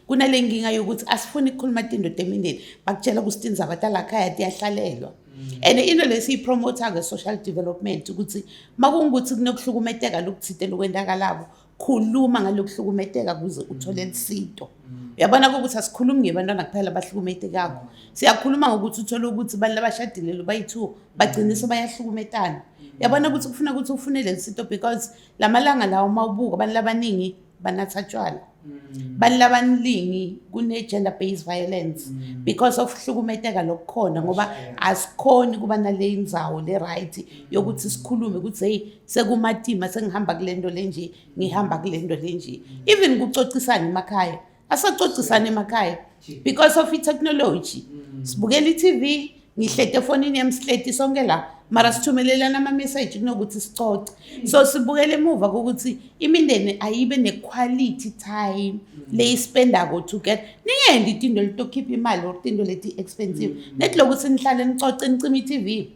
kunale nkinga yokuthi asifuni ukukhuluma tindoda emindeni bakutshela ukuthi tindzaba talakhaya tiyahlalelwa mm. and into le siyipromotha-ke social development ukuthi uma kungukuthi kunokuhlukumeteka lokuthite lokwendakalabo khuluma ngalokuhlukumeteka kuze uthole lisito mm. uyabona kokuthi asikhulumi ngebantwana kuphela abahlukumetekako mm. siyakhuluma ngokuthi uthole ukuthi abantu labashadile lo bayi-two bagciniso bayahlukumetana uyabona ukuthi kufuna ukuthi ufune leli sito because la malanga lawo uma ubuka abantu labaningi banatha tshwala mm. bantu labaningi kune-gender based violence mm. because of hlukumeteka lokukhona ngoba asikhoni kuba nale ndzawo le-right mm. yokuthi sikhulume ukuthi heyi sekumatima sengihamba kule nto le nje ngihamba kule nto le nje even kucocisana emakhaya asacocisane emakhaya because of itechnology mm. sibukela itv ngihlete efonini yami sihleti sonke la mara sithumelelana ama-message kunokuthi sicoce so sibukele emuva kokuthi imindeni ayibe ne-quality time leyispendako together ningendi tinto litokhipha imali or tinto leti-expensive mm. neti lokuthi nihlale nicoce nicima i-tv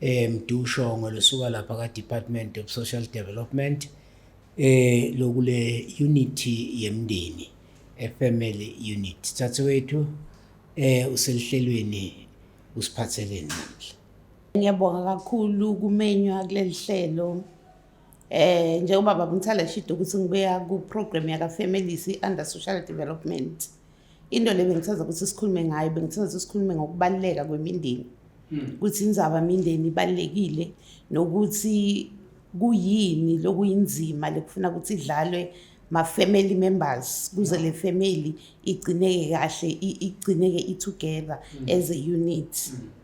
eh Mdushongwe losuka lapha ka Department of Social Development eh lokule unity yemndeni a family unit thathe wethu eh uselihlelweni usiphatheleni namhla Ngiyabonga kakhulu kumenywa kuleli hlelo eh njengoba baba Mthala shito ukuthi ngibuya ku program yaka families under social development into le bengithanda ukuthi sikhulume ngayo bengithanda ukuthi sikhulume ngokubaluleka kwemindeni hmm. ukuthi inzaba imindeni ibalulekile nokuthi kuyini lokuyinzima lekufuna ukuthi idlalwe ma-family members kuze le family igcineke kahle igcineke i-together hmm. as a unit mm.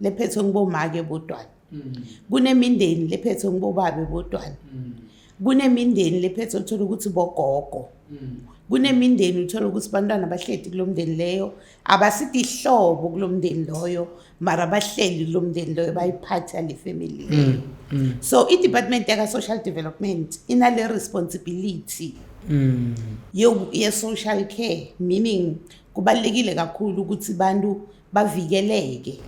lephethwe ngibomake bodwana mm. kunemindeni lephethwe ngibobabe bodwana mm. kunemindeni lephethwe uthola ukuthi bogogo mm. kunemindeni uthola ukuthi bantwana bahleli kulo mndeni leyo abasithi ihlobo kulo mndeni loyo mara bahleli kulo mndeni loyo bayiphatha le family leyo so i-department yaka-social development inale responsibility mm. ye-social care meaning kubalulekile kakhulu ukuthi bantu bavikeleke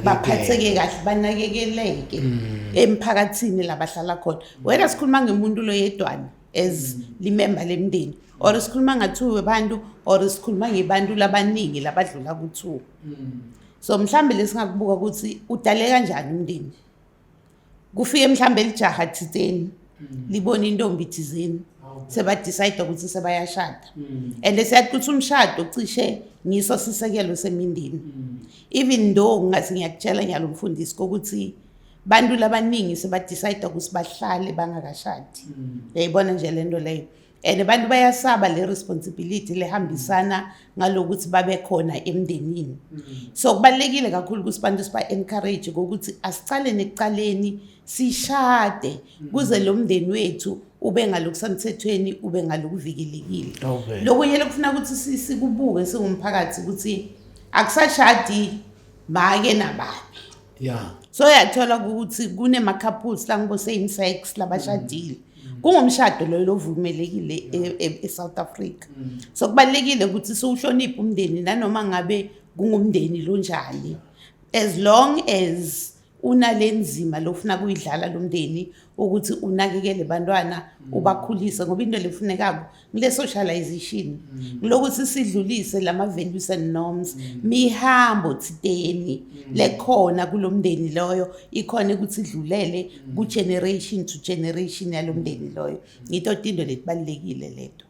baphatheke kahle banakekeleke mm. emphakathini labahlala khona wena sikhuluma ngemuntu loyedwana as mm. limemba lemndeni or sikhuluma ngathiwe bantu or sikhuluma ngebantu labaningi labadlula kuthiwa mm. so mhlawumbe lesingakubuka ukuthi udale kanjani umndeni kufike mhlawumbe lijaha thizeni mm. libona intombi thizeni sebadicide ukuthi sebayashada mm. and siyacuthi umshado cishe ngiso sisekelo semindeni mm. even though ngathi ngiyakutshela nyalo mfundisi kokuthi bantu labaningi sebadicide ukuthi bahlale bangakashadi yayibona nje le nto leyo and abantu bayasaba le responsibility lehambisana ngalokuthi babe khona emndenini mm. so kubalekile kakhulu ukuthi abantu siba encourage ukuthi asicale nekucaleni sishade mm. kuze lo mndeni wethu ube ngalokusemthethweni ube ngalokuvikelekile lokunye lokufuna ukuthi sikubuke singumphakathi ukuthi akusashadi make nababi yeah so yathola ukuthi kunema couples la ngibo same sex labashadile mm. kungumshado loyo lovumelekile e, e, eSouth Africa mm. so kubalekile ukuthi siwuhloniphe umndeni nanoma ngabe kungumndeni lonjani as long as unalenzima lofuna kuyidlala lomndeni ukuthi unakekele bantwana mm. ubakhulise ngoba into lefunekako kule socialization mm. kulokuthi sidlulise lama values and norms mm. mihambo thiteni mm. lekhona kulomndeni loyo ikhona ukuthi idlulele ku generation to generation yalomndeni loyo ngito tindo letibalekile leto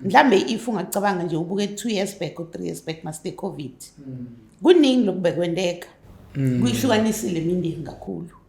mhlambe if ungacabanga nje ubuke 2 years back or 3 years back master covid kuningi lokubekwenteka kuyihlukanisile imindeni kakhulu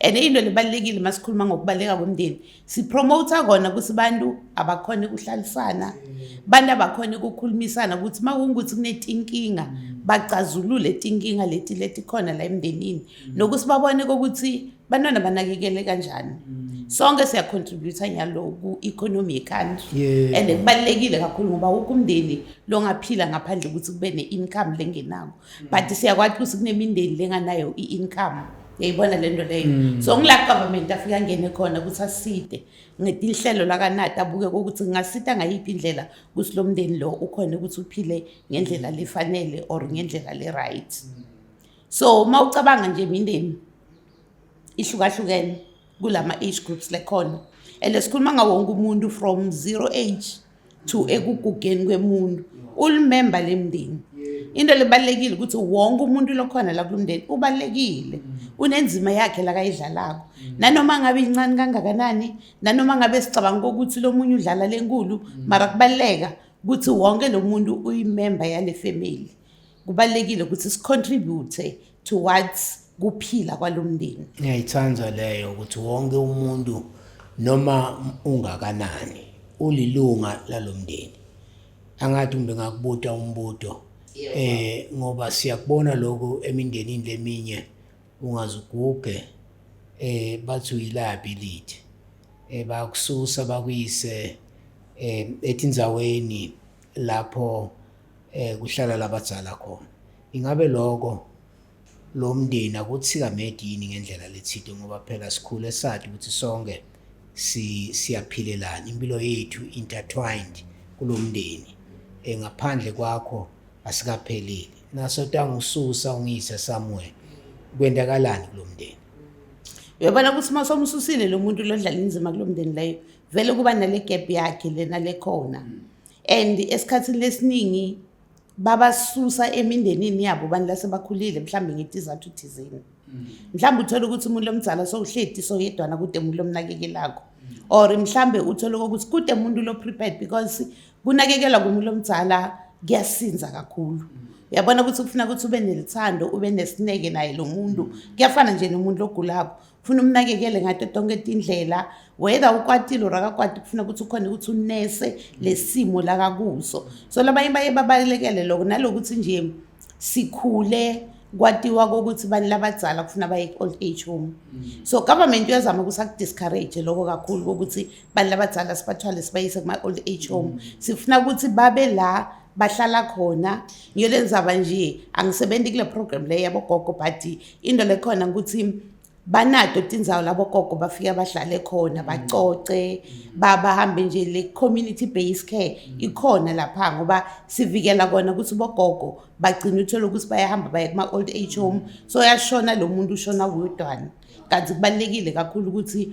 and into lebalulekile uma sikhuluma ngokubaluleka komndeni sipromota kona ukuthi abantu abakhona ukuhlalisana abantu abakhona ukukhulumisana ukuthi uma kungukuthi kunetinkinga bacazulule tinkinga leti letikhona la emndenini nokuthi babone kokuthi bantwana banakekele kanjani sonke siyacontributa nyalo ku-economy yecountry and kubalulekile kakhulu ngoba wonke umndeni longaphila ngaphandle ukuthi kube ne-income lengenako mm. but siyakwaxusa kunemindeni lenganayo i-income yayibona le nto leyo mm. so ngila government afike angene khona ukuthi aside ngetinhlelo lakanati abuke kokuthi ngingasida ngayiphi indlela ukuthi lo mndeni lo ukhona ukuthi uphile ngendlela lefanele or ngendlela le-right mm. so uma ucabanga nje imindeni ihlukahlukene kulama-age groups lekhona and sikhuluma ngawonke umuntu from zero age to ekugugeni kwemuntu ulimemba lemndeni into lebalekile ukuthi wonke umuntu lokhona la kulomndeni ubalekile unenzima yakhe la kayidlalako nanoma ngabe incane kangakanani nanoma ngabe sicabanga ukuthi lomunye udlala lenkulu mara kubaleka ukuthi wonke lomuntu uyimemba yale family kubalulekile ukuthi sicontribute towards kuphila kwalomndeni ngiyayithanda leyo ukuthi wonke umuntu noma ungakanani ulilunga lalomndeni angathi umbe ngakubuta umbuto eh ngoba siyakubona lokho emindenini leminye ungazuguge eh bathi uyilaphi lithi eh bakususa bakuyise eh etindzaweni lapho eh kuhlala labadzala khona ingabe lokho lo mndeni akuthikamedi yini ngendlela lethide ngoba phela sikhule sathi ukuthi sonke siyaphilelana impilo yethu intertwined kulo mndeni eh, ngaphandle kwakho asikaphelile naso tangususa ungiyise somewhere kwendakalani kulo mndeni uyabona ukuthi uma somsusile lo muntu lodlala inzima kulo mndeni leyo vele kuba nale gap yakhe lena lekhona and esikhathini lesiningi babasusa emindenini yabo bantu lasebakhulile mhlawumbe ngetizathu thizeni mm. mhlawumbe uthole ukuthi umuntu lomdzala sowuhledi soyedwana kude umuntu lomnakekelako mm. or mhlawumbe uthole ukuthi kude umuntu lo-prepared because kunakekelwa kumuntu lomdzala kuyasinza kakhulu mm. uyabona ukuthi kufuna ukuthi ube nelithando ube nesineke naye lo muntu kuyafana nje nomuntu ogulako funa umnakekele ngato tonke tindlela whether ukwatile or akakwati kufuna ukuthi ukhona ukuthi unese lesimo lakakuso so labanye baye babalekele lokho nalokuthi nje sikhule kwatiwa kokuthi bani labadzala kufuna baye ku-old age home mm. so government uyazama ukuthi akudiscourage lokho kakhulu kokuthi bani labadzala sibathwale sibayise kuma-old age home mm. sifuna ukuthi babe la bahlala khona ngiyolenzaba nje angisebenzi kule program le yabogogo but into lekhona ukuthi banato tindzawo labo gogo bafike bahlale khona mm. bacoce mm. babahambe nje le community based care mm. ikhona lapha ngoba sivikela kona ukuthi bogogo bagcina uthole ukuthi bayahamba baye kuma old age home so yashona lo muntu ushona wedwana kanti kubalekile kakhulu ukuthi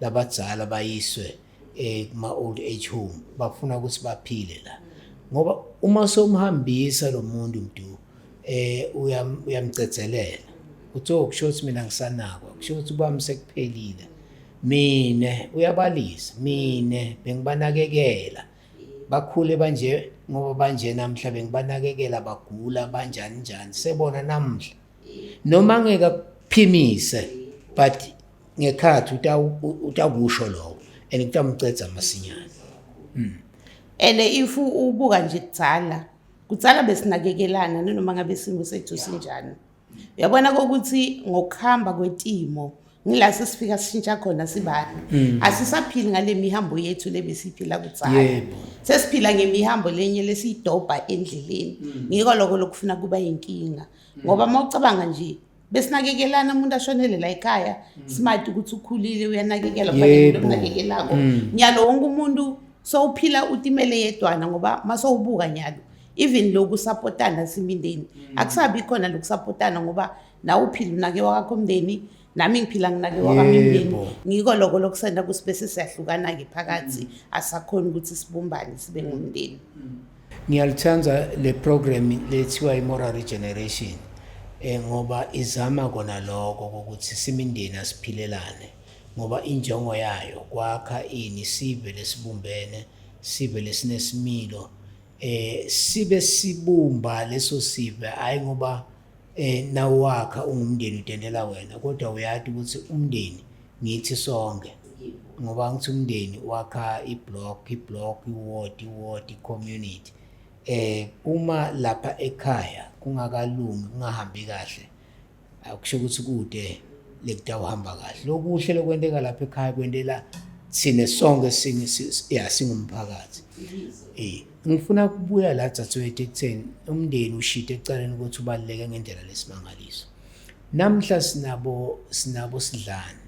labadzala bayiswe eh, kuma old age home bafuna ukuthi baphile la ngoba uma somhambisa lo muntu mdu eh uyam- uyamcedzelela uthi oh kusho ukuthi mina ngisanakwa kusho ukuthi kwami sekuphelile mina uyabalisa mina bengibanakekela bakhule banje ngoba banje namhla bengibanakekela bagula banjani njani sebona namhla noma ngeke akuphimise but ngekhathi utakusho lokho and kutamcedza masinyane hmm. and if ubuka nje kudzala kudzala besinakekelana nanoma ngabe isimo sethu sinjani uyabona kokuthi ngokuhamba kwetimo ngila sesifika sishintsha khona sibani hmm. asisaphili ngale mihambo yethu lebesiphila kudzala sesiphila ngemihambo lenye lesiyidobha endleleni hmm. ngiko lokho lokufuna kuba yinkinga ngoba uma ucabanga nje besinakekelana umuntu ashonele la ekhaya mm. smart ukuthi ukhulile uyanakekela kubalulekile ukunakekelako mm. nyalo wonke umuntu sowuphila utimele yedwana ngoba masowubuka nyalo even loku sapotana simindeni mm. akusabi khona loku sapotana ngoba nawe uphila unake wakakho umndeni nami ngiphila nginake wakamindeni ngiko lokho lokusenda kusibese siyahlukana-ke phakathi asakhona ukuthi sibumbane sibe ngumndeni Ngiyalithanda le program lethiwa i-moral regeneration um ngoba izama kona lokho kokuthi simindeni asiphilelane ngoba injongo yayo kwakha ini sive lesibumbene sive lesinesimilo um sibe sibumba leso sive hhayi ngoba Eh nawakha ungumndeni udendela wena kodwa uyati ukuthi umndeni ngithi sonke ngoba ngithi umndeni wakha iblock iblock iward iward community eh uma lapha ekhaya kungakalungi kungahambi kahle akusho ukuthi kude lekutawuhamba kahle lokuhle lokwenteka lapha ekhaya kwentela sine sonke singe ya singumphakathi eh Ngifuna ukubuya la dzadzewethu ekutheni umndeni ushite ekucaleni ukuthi ubaluleke ngendlela lesimangaliso. Namhla sinabo sinabo sidlani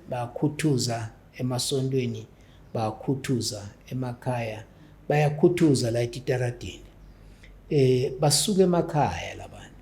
bakhuthuza emasontweni bakhuthuza emakhaya bayakhuthuza la etitaradini eh basuka emakhaya labantu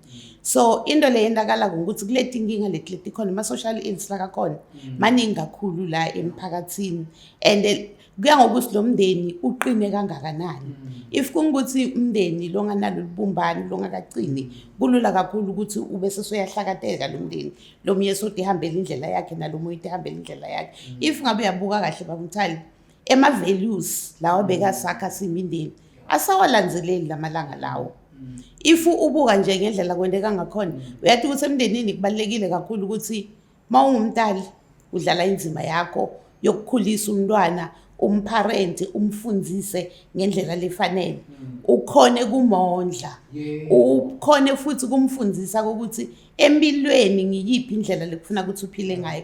so into le yentakala ngokuthi kule tinkinga leti leti khona ama-social ills lakakhona mm. maningi kakhulu la emphakathini and kuya ngokuthi lo mndeni uqine kangakanani mm. if kungukuthi umndeni longanalo lubumbani longakaqini kulula kakhulu ukuthi ube sesuyahlakateka lo mndeni lo mnye sodi ihambela indlela yakhe nalo munye ihambela indlela yakhe mm. if ngabe uyabuka kahle bamthali ema-values lawa bekasakha simindeni asawalanzeleli lamalanga lawo if ubuka nje ngendlela kwenteka ngakhona uyathi ukuthi emndenini kubalulekile kakhulu ukuthi uma ungumntali udlala inzima yakho yokukhulisa umntwana umpharenti umfundise ngendlela lefanele mm. ukhone kumondla ukhone futhi kumfundisa ukuthi empilweni ngiyiphi indlela lekufuna ukuthi uphile ngayo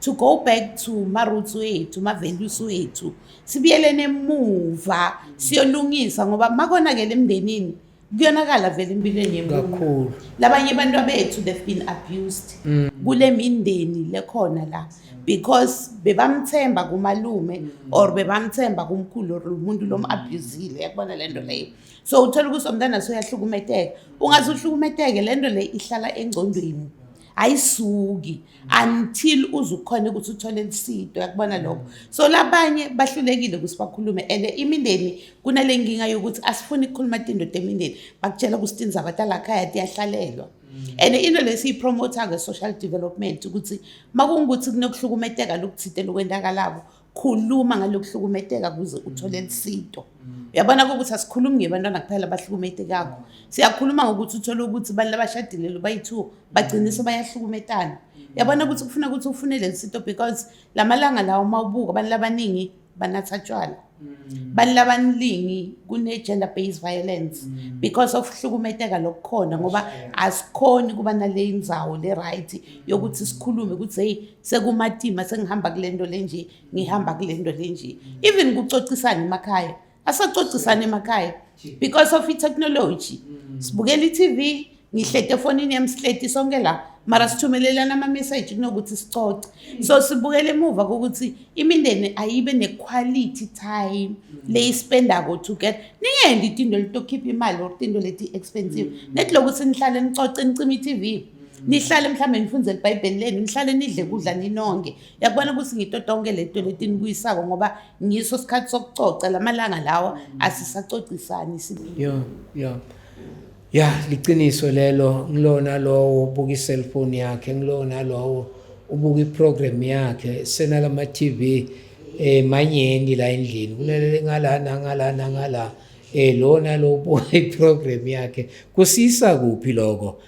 to go back to maroots wethu ma-values wethu sibuyelene emuva siyolungisa ngoba makonakele emndenini kuyonakala vele empilweni yemkakhulu labanye abantu abethu they've been abused mm. kule mindeni lekhona la because bebamthemba kumalume mm. or bebamthemba kumkhulu or umuntu lom-abusile yakubona le nto leyo so uthola ukuthi omntana soyahlukumeteka ungaze uhlukumeteke le nto le ihlala engcondweni ayisuki until uzukhona ukuthi uthole lisido yakubona lokho so labanye bahlulekile ukuthi bakhulume and imindeni kunale nkinga yokuthi asifuni ukukhuluma tindoda emindeni bakutshela ukuthi tindzaba talakhaya tiyahlalelwa mm. and into lesiyipromotha nge-social development ukuthi makungukuthi kunokuhlukumeteka lokuthinte lokwendakalabo khuluma ngalokuhlukumetheka kuze uthole lisinto uyabona ukuthi asikhulumi ngebantwana kuphela abahlukumetekako siyakhuluma ngokuthi uthole ukuthi abantu labashadilelo bayi-two bagcinise bayahlukumetana uyabona ukuthi kufuna ukuthi ufune leli sinto because la malanga lawo uma ubuka abantu labaningi banatha tshwala mm. bantu labaningi kune-gender based violence mm. because of hlukumeteka lokukhona ngoba asikhoni kuba nale ndzawo le-right yokuthi sikhulume ukuthi heyi sekumatima sengihamba kule nto le nje ngihamba kule nto le nje even kucocisana emakhaya asacocisana emakhaya because of itechnology mm. sibukela i-tv ngihlete efonini yami sihleti sonke la mara sithumelelana ama-message kunokuthi sicoce so sibukele emuva kokuthi imindeni ayibe ne-quality time leyispendako together ningendi tinto litokhipha imali or tinto leti-expensive mm. neti lokuthi nihlale nicoce nicima i-tv nihlale mhlawumbe nifundzele ibhayibheli lenu nihlale nidle kudla ninonke yakubona ukuthi ngito tonke leto letinibuyisako ngoba ngiso sikhathi sokucoca la malanga lawa asisacocisani yeah, yeah. ya liciniso lelo ngilona lowo ubuka i-cellphone yakhe ngilona lowo ubuka i-program yakhe senalama-tv um eh, manyeni la endlini kunalele ngalana ngalana ngala um eh, lona lo ubuka i-program yakhe kusisa kuphi loko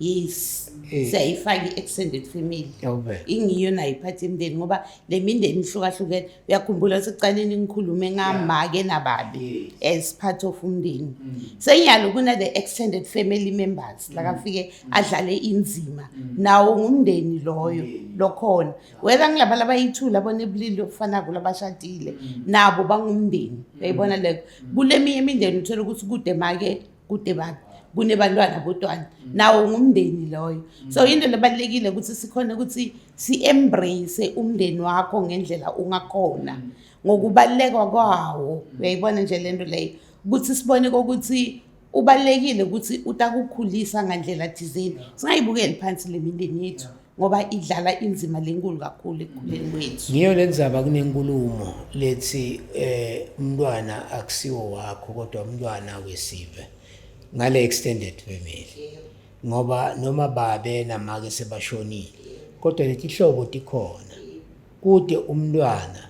yes Eh. siyayifaka i-extended family Yawube. ingiyo nayo iphathi imndeni ngoba le mindeni ihlukahlukene uyakhumbula sekuqaleni ngikhulume ngamake nababi as part of umndeni senyalo kuna-the extended family members lakafike adlale inzima nawo ngumndeni loyo lokhona whether ngilaba labayi-two labona ebulili lokufanako labashadile nabo bangumndeni uyayibona leyo kule minye imindeni uthole ukuthi kude make kude bani kunebantwana bodwana mm. nawo ngumndeni loyo mm. so into lebalulekile ukuthi sikhona ukuthi si-embrace umndeni wakho ngendlela ungakhona mm. ngokubaluleka kwawo uyayibona nje le nto leyo ukuthi sibone kokuthi ubalulekile ukuthi utakukhulisa ngandlela thizeni singayibukeli phansi le mindeni yethu ngoba idlala inzima lenkulu kakhulu ekukhuleni kwethu ngiyo lenzaba kunenkulumo lethi eh umntwana akusiwo wakho kodwa umntwana wesive ngale extended family ngoba noma babe namake sebashonile kodwa letihlobo tikhona kude umntwana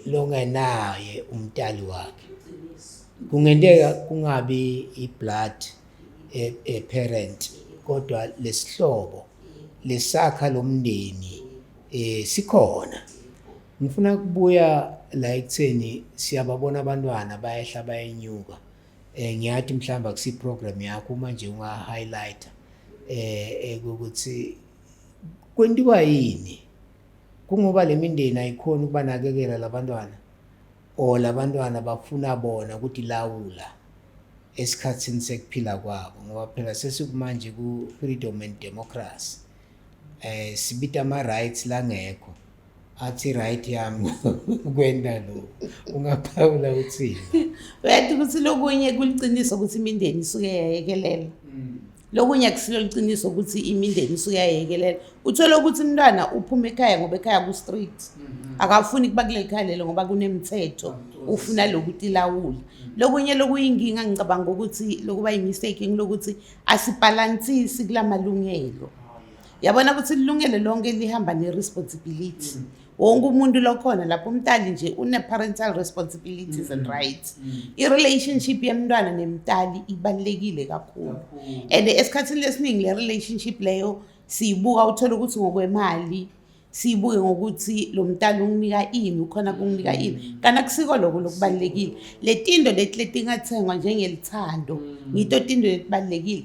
longenaye umtali wakhe kungenteka kungabi iblood e, e parent kodwa lesihlobo lesakha lomndeni eh sikhona ngifuna kubuya la ekutheni siyababona abantwana bayehla bayenyuka eh ngiyathi mhlawumbe akusi program yakho uma nje unga highlighter eh ukuthi kwentiwa yini kungoba lemindeni ayikhona ukubanakekela labantwana or labantwana bafuna bona ukuthi lawula esikhathini sekuphila kwabo ngoba phela sesikumanje ku freedom and democracy eh sibita ama rights langekho athi right yami kwenda lo ungaphawula uthini uyathi ukuthi lokunye kuliqiniso ukuthi imindeni isuke yayekelela mm. lokunye akusilo liqiniso ukuthi imindeni isuke yayekelela uthole ukuthi umntwana uphuma ekhaya ngoba ekhaya ku-street mhm. akafuni kuba kuleli khaya lelo ngoba kunemithetho ufuna lokuthi ilawule mhm. lokunye lokuyinkinga ngicabanga ukuthi lokuba yimistake ngilokuthi asibhalansisi kula malungelo oh, yabona ukuthi ilungelo lonke lihamba ne-responsibility mhm. wonke umuntu lokhona lapho umtali nje une-parental responsibilities mm -hmm. and mm-hmm. rights mm -hmm. i-relationship yemntwana nemtali ibalulekile kakhulu and esikhathini lesiningi le relationship leyo siyibuka uthole ukuthi ngokwemali siyibuke ngokuthi lo mntana unginika ini ukhona kunginika ini mm-hmm. kanti akusiko lokho lokubalulekile le tindo leti letingathengwa njengelithando mm-hmm. ngito tindo letibalulekile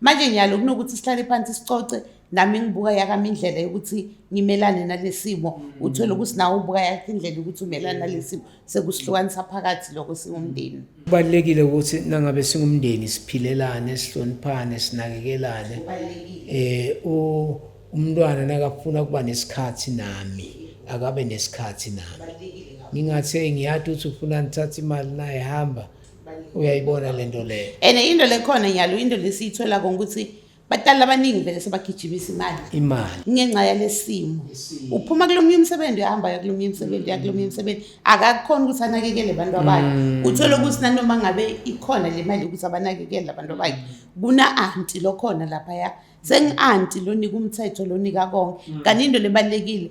manje ngiyalo kunokuthi sihlale phansi sicoce nami ngibuka yakami indlela yokuthi ngimelane nalesimo mm. uthole ukuthi nawe ubuka yakho indlela yokuthi umelane nalesimo sekusihlukanisa phakathi lokho singumndeni kubalulekile ukuthi nangabe singumndeni siphilelane sihloniphane sinakekelane eh umntwana nakafuna kuba nesikhathi nami akabe nesikhathi nami ngingathe ngiyati ukuthi ufuna ngithathe imali naye hamba uyayibona le nto leyo and into lekhona nyalo into lesiyithola konke ukuthi batali abaningi vele sebagijimisa imali imali ngenxa yalesimo uphuma kulomunye umsebenzi uhamba ya kulomunye umsebenzi ya kulomunye umsebenzi akakhona ukuthi anakekele abantu abakhe mm. uthole ukuthi nanoma ngabe ikhona le mali ukuthi abanakekele abantu abakhe kuna-anti lokhona laphaya sengi-anti lonika umthetho lonika konke mm. kanti into lebalulekile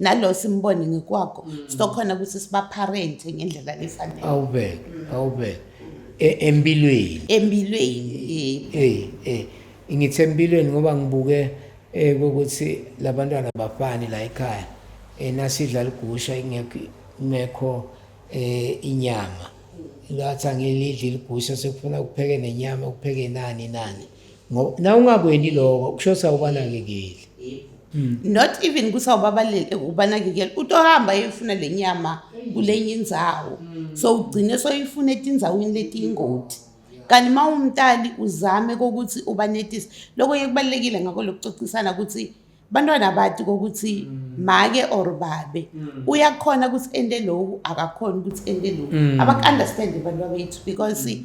nalo simbone ngikwakho mm. sizokhona ukuthi sibaparente ngendlela lefanele awube awube e, empilweni empilweni eh eh ngithe empilweni ngoba ngibuke eh ukuthi labantwana bafani la ekhaya enasidla eh, ligusha ingekho ngekho eh inyama lathi angilidli ligusha sekufuna ukupheke nenyama ukupheke nani nani ngoba na ungakweni lokho kusho sawubanakekeli hmm. not even kusawubabalele ubanakekela utohamba yefuna le nyama kulenye indzawo hmm. so ugcine soyifuna etindzaweni letiyingoti kanti uma umntali uzame kokuthi ubanetise lokho ye kubalulekile ngakho lokucocisana ukuthi bantwana bati kokuthi mm. make or babe mm. uyakhona ukuthi ende loku akakhona ukuthi ende loku mm. abaku-understande abantu babethu because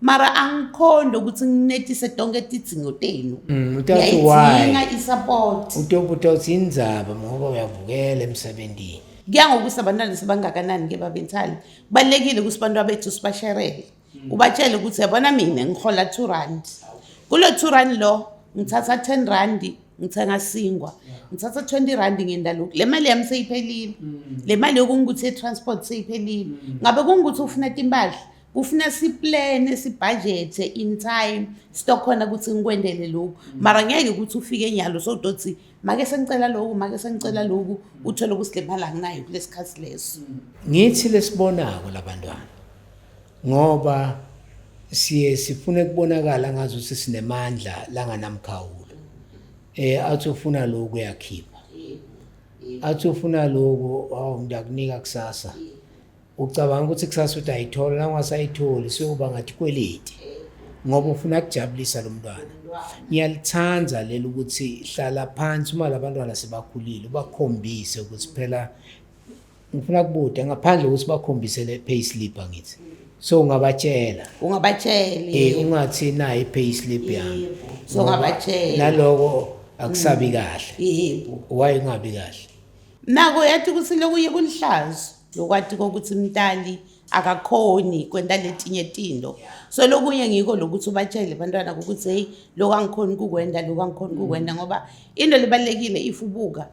mara angikhonde ukuthi nginethise tonke tidzingo tenu mm, uyayidinga isupport utobuta uthi indzaba ngoba uyavukela emsebenzini kuya ngokuthi abantwana sebangakanani ke babentshali kubalulekile ukuthi abantu abethu sibasherele mm. ubatshele ukuthi yabona mina ngihola two rand kulo two rand lo ngithatha ten randi ngithenga singwa ngithatha 20 rand ngenda lokhu le mali yami seyiphelile mm. le mali yokungukuthi ye-transport seyiphelile mm. ngabe kungukuthi ufuna timpahla kufuna siplane sibhajethe in time sitokhona ukuthi ngikwendele lokhu mara ngeke ukuthi ufike nyalo sodothi make sengicela lokhu make sengicela lokhu uthole ukusidlemala nginayo kulesikhathi leso ngithi lesibonako labantwana ngoba siye sifune kubonakala ngazo ukuthi sinemandla langanamkhawulo eh athi ufuna lokhu uyakhipha athi ufuna lokhu awu ngiyakunika kusasa yeah. ucabanga ukuthi kusasa uthi ayithola nangasayitholi siyoba ngathi kweleti ngoba ufuna kujabulisa lo mntwana ngiyalithanda leli ukuthi hlala phansi uma labantwana sebakhulile ubakhombise ukuthi phela ngifuna kubude ngaphandle ukuthi bakhombise le pay slip angithi so ungabatshela ungabatshela eh ungathi nayi pay slip yami so ungabatshela naloko akusabi kahle yebo why ungabi kahle Nako yathi ukuthi lokuye kulihlazo lokwati kokuthi mntali akakhoni kwenta letinye tinto so lokunye ngiko lokuthi ubatshele bantwana ukuthi heyi loku angikhoni kukwenta loku angikhoni kukwenta mm. ngoba into libalulekile if ubuka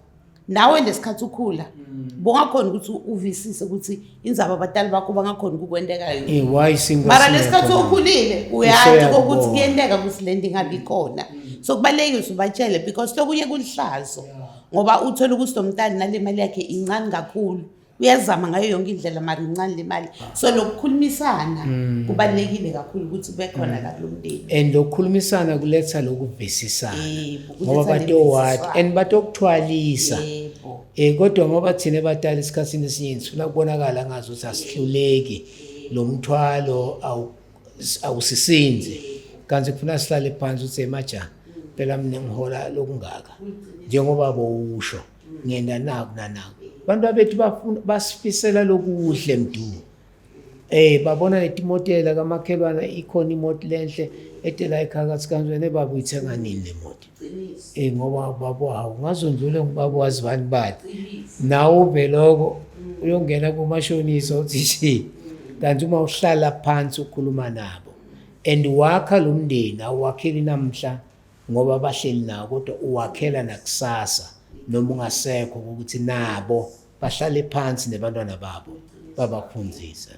nawe lesikhathi ukhula mm. bongakhona ukuthi uvisise ukuthi inzaba abatali bakho bangakhona ukukwentekayo eh, mara lesikhathi ukhulile uyazi kokuthi kuyenteka ukuthi le nto ingabi khona mm. so kubalulekile ukuthi ubatshele because lokunye kulihlazo yeah. ngoba uthole ukuthi lo mntana nale mali yakhe incane kakhulu uyazama ngayo yonke indlela mari incane le mali so lokukhulumisana mm. kubalulekile kakhulu ukuthi ube khona mm. la kulo mndeni and lokukhulumisana kuletha lokuvisisana ngoba batowati and batokuthwalisa um kodwa ngoba thina batala esikhathini esiningi sifuna kubonakala ngazi ukuthi asihluleki lo mthwalo awusisinzi kanti kufuna sihlale phansi uthe maja phela mina ngihola lokungaka njengoba bowusho ngenda naku nanaku abantu abethu bafuna basifisela lokuhle mdu eh babona letimotela kamakhelwana ikhona imoto lenhle etela ekhakathi kanjani baba uyithenga nini le moto Eh ngoba ubaba wawo ngazondlule ngubaba wazi bani bani. Nawe uveloko mm. uyongena kumashonisa uthi shi. Mm. Kanti uma uhlala phansi ukhuluma nabo and wakha lo mndeni awakheli namhla ngoba bahleli nawo kodwa uwakhela nakusasa noma ungasekho ukuthi nabo bahlale phansi nebantwana babo babakhunzise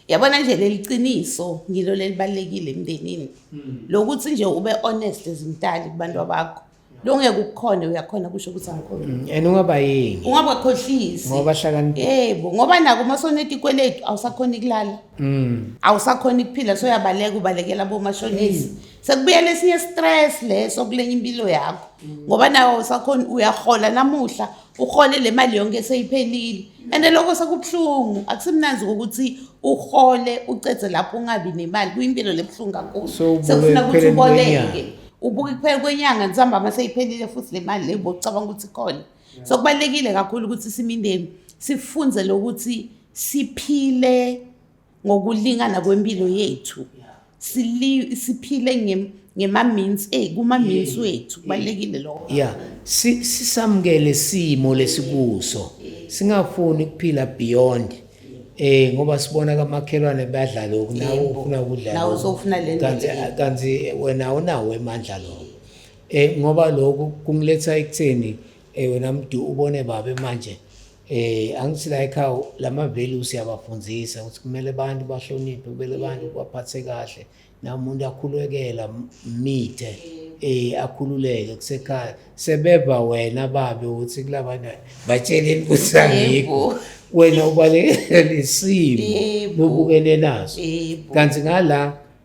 yabona nje leli qiniso ngilo lelibalekile emndenini hmm. lokuthi nje ube honest ezimtali kubantu bakho longeke ukukhona uyakhona kusho ukuthi angikhona mm, and ungaba yini ungaba khohlisi ngoba hlakani yebo ngoba nako uma soneta ikweletu awusakhona ikulala mm awusakhona ikuphila so uyabaleka ubalekela bomashonisi mm. sekubuyela esinye stress leso kulenye impilo yakho mm. ngoba nawo awusakhona uyahola namuhla uhole le mali yonke seyiphelile and lokho sekubuhlungu akusimnanzi ukuthi uhole ucedze lapho ungabi nemali kuyimpilo lebuhlungu kakhulu sekufuna ukuthi uboleke ubuke kuphela kwenyanga nisihamba uma seyiphelile futhi le mali leyo bocabanga ukuthi khona so kubalulekile kakhulu ukuthi simindeni sifunze lokuthi siphile ngokulingana kwempilo yethu sili siphile ngem ngema-means eh kuma-means wethu kubalulekile lokho ya si- sisamukele simo lesikuso singafuni ukuphila beyond eh ngoba sibona kamakhelwane badlala lokhu nawe Yebo. ufuna ukudlala Nawe lokhu. usofuna le nto Kanti- le. kanti wena awunawo emandla lokho eh ngoba lokhu kungiletha ekutheni Eh wena mdu ubone babe manje eh angithi la ekhaya lama values siyabafundzisa ukuthi kumele abantu bahloniphe kumele abantu baphathe kahle namuntu akhulekela mithe eh akhululeke kusekhaya sebeva wena babe ukuthi kulabana batsheleni ukuthi angikho wena ubalekela isimo bubukene naso kanti ngala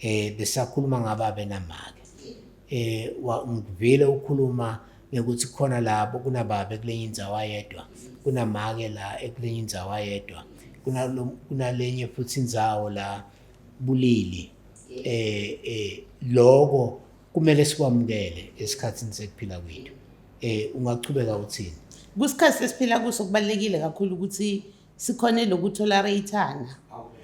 eh besakhuluma ngaba benamake eh ngivile ukhuluma ukuthi khona labo kunababa ekulenye indawo ayedwa kunamake la ekulenye indawo ayedwa kunalenye futhi indawo la bulili eh eh lokho kumele sikwamukele esikhathini sekuphila kwethu eh ungachubeka uthini kusikhathi sesiphila kuso kubalekile kakhulu ukuthi sikhone lokutolerate-ana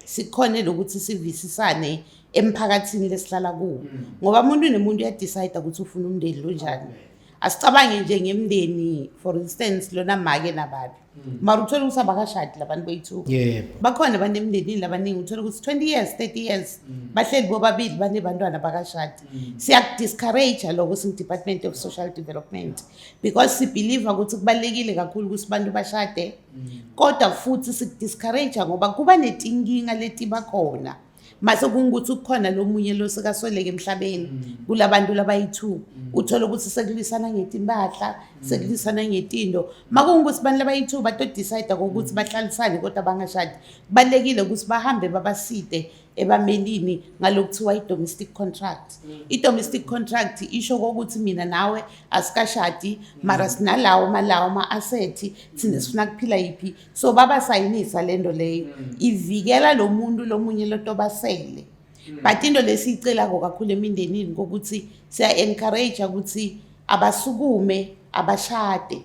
sikhone lokuthi sivisisane emphakathini lesihlala kuwo mm. ngoba umuntu nemuntu uyadecide ukuthi ufuna umndeni lonjani asicabange nje ngemndeni for instance lona make nababi mm. mara uthole ukuthi abakashadi labantu bethu bakhona abantu emndenini labaningi uthole ukuthi twenty years thirty years mm. bahleli bobabili banebantwana bakashadi siyakudiscourage-a loko singu-department of social development because sibhiliva ukuthi kubalulekile kakhulu ukuthi abantu bashade mm. kodwa futhi sikudiscourage ngoba kuba netinkinga letiba khona mase kungukuthi ukukhona lomunye lo sekasweleke emhlabeni mm. kulabantu labayi-two mm. uthole ukuthi sekulwisana ngetimpahla mm. sekulwisana ngetindo makungukuthi abantu labayi-two batodicide kokuthi bahlalisane kodwa bangashadi kubalulekile ukuthi bahambe babaside ebamelini ngalokuthiwa i-domestic contract mm. i-domestic contract isho kokuthi mina nawe asikashadi mm. mara sinalawo malawo ama-asethi thina mm. sifuna kuphila yiphi so babasayinisa le nto leyo ivikela lo muntu lo munye loto basele but into lesiyicelako kakhulu emindenini kokuthi siya-encourage ukuthi abasukume abashade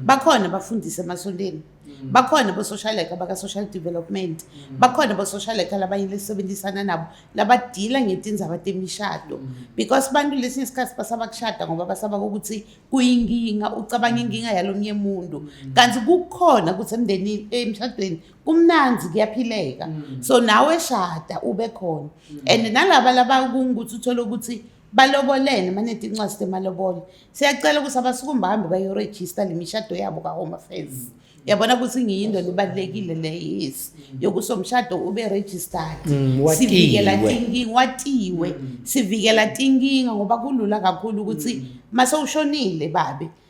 bakhona abafundisi emasonteni Mm. bakhona bo-social worker baka-social development mm. bakhona bo-social worker labanye lesisebenzisana nabo labadila ngetindzaba temishado mm. because bantu lesinye isikhathi basaba kushada ngoba basaba kokuthi kuyinkinga ucabanga inkinga yalomnye muntu kanti kukhona ukuthi emndenini emshadweni kumnanzi kuyaphileka so nawe shada ube khona and nalaba labakungukuthi uthole ukuthi balobolene manethi incwadi temalobolo siyacela ukuthi abasukume bahambe bayorejista le mishado yabo ka-home affairs yabona ukuthi ngiyinto lebalulekile le yes yokuso mshado ube registered mm, sivikela thinking watiwe mm. sivikela thinking ngoba kulula kakhulu ukuthi mm. mase ushonile babe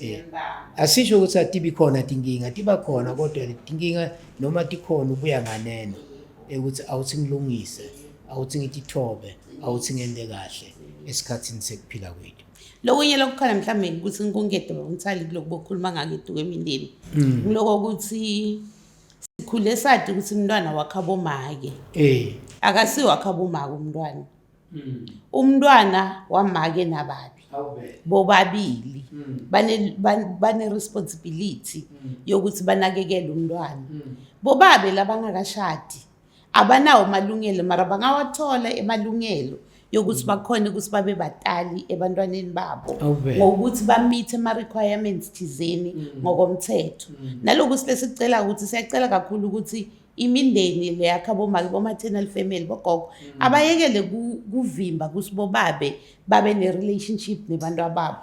Eh, asisho ukuthi atibi khona tinkinga tiba khona kodwa tinkinga noma tikhona ubuya nganeno ukuthi awuthi ngilungise awuthi ngitithobe awuthi ngente kahle esikhathini sekuphila kwethu lokunye lokukhala mhlawumbe ukuthi nkunkedo bakumthali kuloku bokhuluma ngako eduku emindeni mm. kuloko ukuthi sikhule sadi ukuthi umntwana wakhabomake um eh. akasiwakhabomake umntwana mm. umntwana wamake nababi bobabili mm. bane-responsibility mm. yokuthi banakekele umntwana bobabe labangakashadi abanawo amalungelo mara bangawathola emalungelo yokuthi bakhona ukuthi babe batali ebantwaneni babo ngokuthi bamithe ama-requirements thizeni ngokomthetho nalokuthi besicela ukuthi siyacela kakhulu ukuthi imindeni le yakha bomake boma-tenal family bogogo mm. abayekele kuvimba kuthi bobabe babe ne-relationship nebantu ababo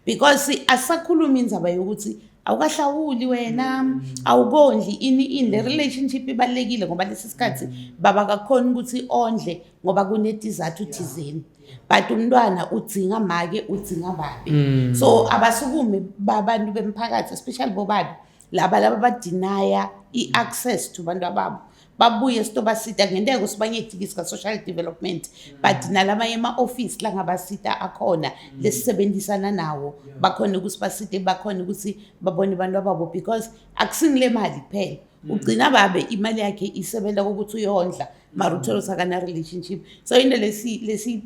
because asakhuluma inzaba yokuthi awukahlawuli wena mm. awukondli ini ini le relationship ibalulekile ngoba lesi sikhathi mm. baba kakhona ukuthi ondle ngoba kunetizathu thizeni but umntwana udzinga make udzinga babe so abasukume babantu bemphakathi especially bobabe laba laba badinaya i-access to bantu ababo babuye sitobasita ngenteka ukuthi bangedikisi ka-social development but nalamanye ama-ofisi la ngabasita akhona lesisebenzisana nawo bakhona ukuthi basite bakhona ukuthi babone abantu ababo because akusingile mali kuphela ugcina babe imali yakhe isebenza kokuthi uyondla mara uthole usakana-relationship so into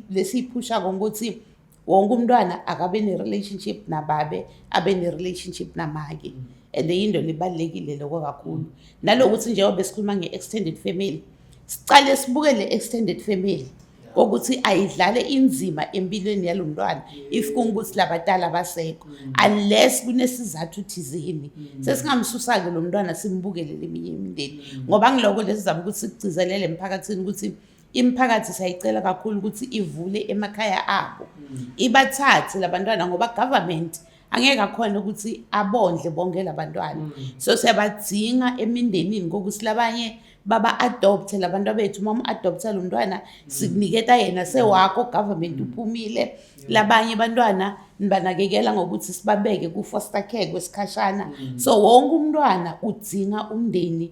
lesiyiphushako ukuthi wonke umntwana akabe ne-relationship nababe abe ne-relationship namake mm. and yinto libalulekile loko kakhulu nalokuthi njengoba besikhuluma nge-extended family sicale sibuke le-extended family kokuthi ayidlale inzima empilweni yalo mntwana if kungukuthi labadala basekho mm. unless kunesizathu thizeni mm. sesingamsusa-ke lo mntwana simbukele leminye imindeni ngoba ngiloko lesi zama ukuthi sikugcizelele emphakathini ukuthi imiphakathi sayicela kakhulu ukuthi ivule emakhaya abo mm. ibathathe labantwana ngoba government angeke akhona ukuthi abondle bonke labantwana mm. so siyabadzinga emindenini kokuthi labanye baba adopte labantu abethu uma adopta lo mntwana mm. sikuniketa yena sewakho government uphumile labanye abantwana nibanakekela ngokuthi sibabeke ku-foster care kwesikhashana so wonke umntwana udzinga umndeni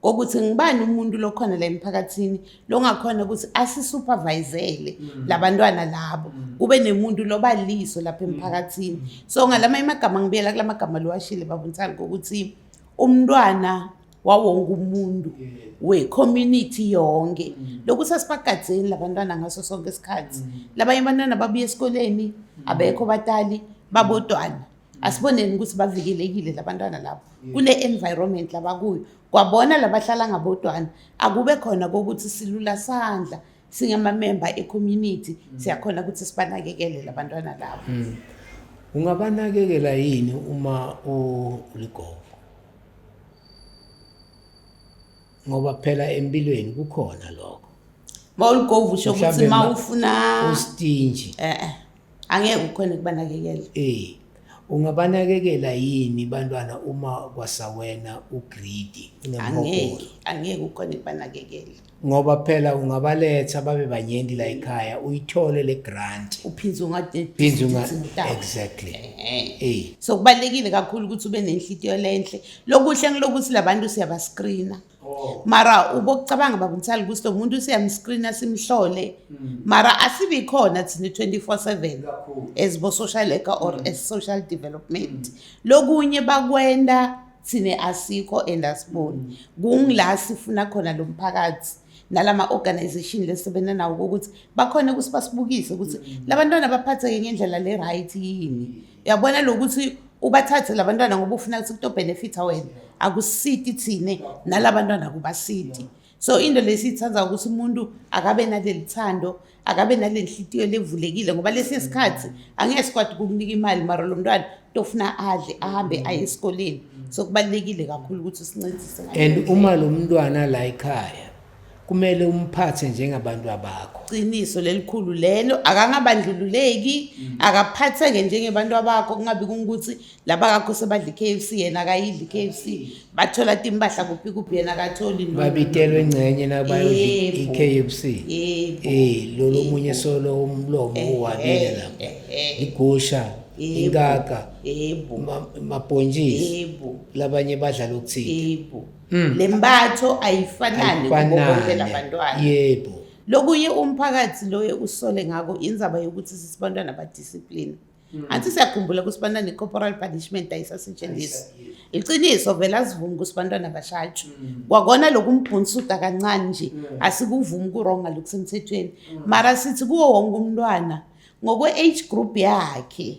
kokuthi ngibani umuntu lokhona la emphakathini longakhona ukuthi asisupervisele mm. labantwana labo mm. kube nemuntu loba liso lapha mm. emphakathini so ngalama imagama ngibiyela kulamagama lowashile babuntsani kokuthi umntwana wawonke umuntu we-community yonke mm. lokhu sasibagadzeni labantwana ngaso sonke isikhathi mm. labanye abantwana babuye esikoleni mm. abekho batali babodwana asiboneni ukuthi bavikelekile labantwana labo kule environment labakuyo kwabona labahlala ngabodwana akube khona kokuthi silula sandla singamamemba ecommunity mm. siyakhona ukuthi sibanakekele labantwana labo mm. ungabanakekela yini uma uligogo ngoba phela empilweni kukhona lokho mawuligovu usho ukuthi mawufuna ustinji eh, eh. angeke ukhone kubanakekela eh ungabanakekela yini bantwana uma kwasawena ugridi angeke angeke ukhone kubanakekela ngoba phela ungabaletha babe banyenti la ekhaya uyithole le grant uphinde ungaphinde unga exactly eh so kubalekile kakhulu ukuthi ube nenhlitiyo lenhle lokuhle ngilokuthi labantu siyabascreena Oh. mara ubokucabanga baba mthali ukuthi lo muntu siyamscreena simhlole mm. mara asibi khona thina 24/7 as bo social worker or mm. as social development mm. lokunye bakwenda thina asikho and asiboni mm. kungila sifuna khona lo mphakathi nalama organization lesebenza nawo ukuthi bakhona ukuthi basibukise ukuthi mm. labantwana baphatheke ngendlela le right yini yabona lokuthi ubathathe labantwana ngoba ufuna ukuthi kuto benefita wena akusiti thine nalabantwana kubasiti so into lesiyithanda ukuthi umuntu akabe naleli thando akabe nale nhliziyo levulekile ngoba lesi sikhathi angeke sikwadi kukunika imali mara lo mntwana tofuna adle ahambe aye esikoleni so kubalulekile kakhulu ukuthi sincedise and uma lo mntwana la ekhaya kumele umphathe njengabantwabakho qiniso lelikhulu lelo akangabandlululeki mm. akaphatheke njengebantu abakho kungabi kungukuthi laba kakho sebadla i-kfc yena akayidli i-kfc bathola timpahla kuphi kuphi yena akatholi babitelwe engcenye nabayi-kfc um lolo omunye solo umlomo uwabile lapho igusha inkaka mabhontshisi labanye badla lokuthile Mm. le mbatho ayifanani kubo bonke Ayifanani. labantwana yebo lokunye umphakathi loye usole ngako indzaba yokuthi sisibantwana badiscipline Mm. anti siyakhumbula ukuthi bantwana i-corporal punishment ayisasetshenziswa iqiniso vele asivumi ukuthi bantwana bashajwe Mm. kwakona loku mbhunsuda kancane nje asikuvumi kuronga lokusemthethweni Mm. mara sithi kuwo wonke umntwana ngokwe-age group yakhe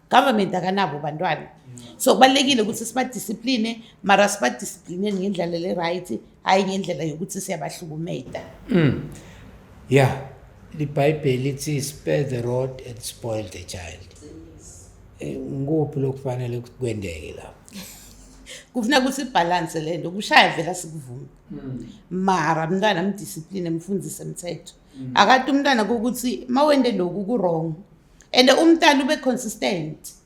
government akanabo bantwana so kubalulekile ukuthi sibadiscipline mara sibadisciplineni ngendlela le-right hhayi ngendlela yokuthi siyabahlukumeda mm. ya libhayibheli lithi spare the road and spoil the child eh, ngikuphi lokufanele ukuthi kwendeke lapho kufuna ukuthi ibhalanse le nto kushaya vela sikuvume mm. mara mntwana mdiscipline mfundise mthetho mm. akati umntwana kokuthi ma wende loku ku-wrong and umntana ube consistent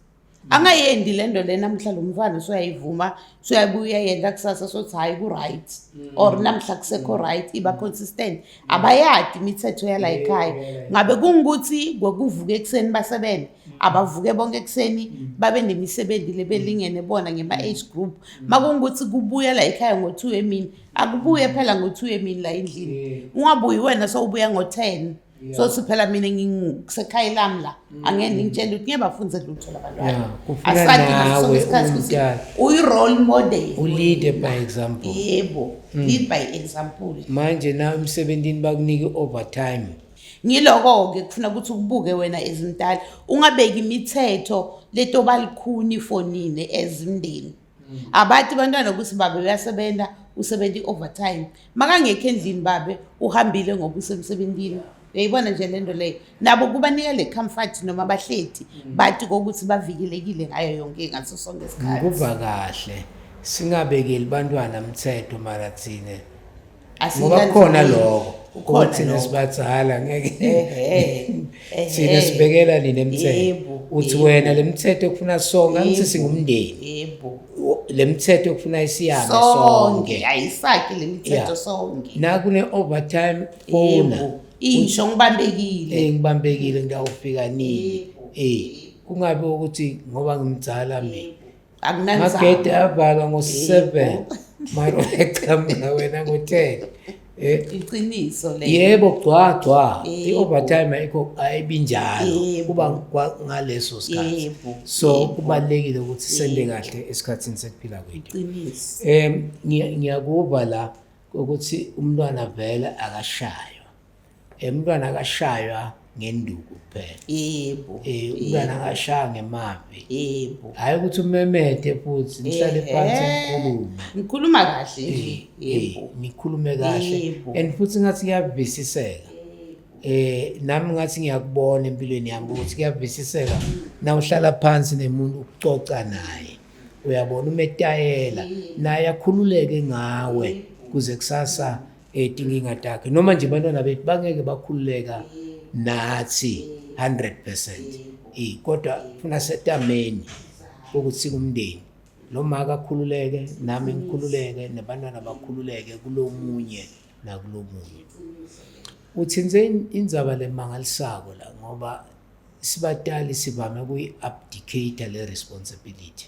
angayendi le nto le namhla lo mntwana soyayivuma soyabuya yenza kusasa sothi hhayi ku-right mm. or namhla kusekho mm. right iba consistent abayadi imithetho yala yikhaya ngabe kungukuthi kwakuvuka ekuseni basebenze mm. abavuke bonke ekuseni babe nemisebenzi le belingene bona ngema-age group ma kungukuthi kubuya la yikhaya ngo-two emini akubuye phela ngo-two emini la endlini ungabuyi wena sowubuya ngo-ten yeah. so siphela mina ngisekhaya lami la mm. angeke ngitshele ukuthi ngiyabafunze lutho labantwana asadingasosikhathi uyi-role model ulead by example yebo mm. lead by example manje na emsebenzini bakunike overtime ngiloko-ke kufuna ukuthi ukubuke wena ezimdala ungabeki imithetho leto balikhuni fonini ezimndeni mm. abathi bantwana ukuthi babe uyasebenza usebenza i-overtime makangekho endlini babe uhambile ngoba usemsebenzini uyayibona nje le nto leyo nabo kubanika le comfort noma bahleti mm. bathi kokuthi bavikelekile ngayo yonke ngaso sonke isikhathi kuva kahle singabekeli bantwana mthetho mara thina ngoba kukhona lokho ukuba thina sibadala ngeke thina sibekela nini emthetho uthi wena le mithetho ekufuna sonke angithi singumndeni yebo le mithetho ekufuna isiyame sonke ayisaki le mithetho sonke nakune overtime ona isho ngibambekile eh ngibambekile ngiyawufika nini eh kungabe ukuthi ngoba ngimdala mina magede avalwa ngo-seven maro eqhamuka wena ngo-ten eh. iqiniso le yebo gcwagcwa i-overtime ayikho ayibinjalo kuba ngaleso sikhathi so kubalulekile ukuthi sende kahle esikhathini sekuphila kwethu um ngiyakuva la ukuthi umntwana vele akashaywa Eh, umntwana akashaywa ngenduku kuphela yebo eh, umntwana akashaya ngemavi yebo hhayi ukuthi umemede futhi nihlale phansi nikhulume ngikhuluma kahle nje eh, yebo nikhulume kahle and futhi ngathi kuyavisiseka eh nami ngathi ngiyakubona empilweni yami ukuthi kuyavisiseka na uhlala phansi nemuntu ucoca naye uyabona umetayela naye akhululeke ngawe kuze kusasa etinkinga takhe noma nje bantwana bethu bangeke bakhululeka nathi 100% eh kodwa funa setameni ukuthi kumndeni lo maka akhululeke nami ngikhululeke nabantwana bakhululeke kulomunye nakulomunye uthinze indzaba lemangalisako la ngoba sibatali sivame kuyi-abdicate le responsibility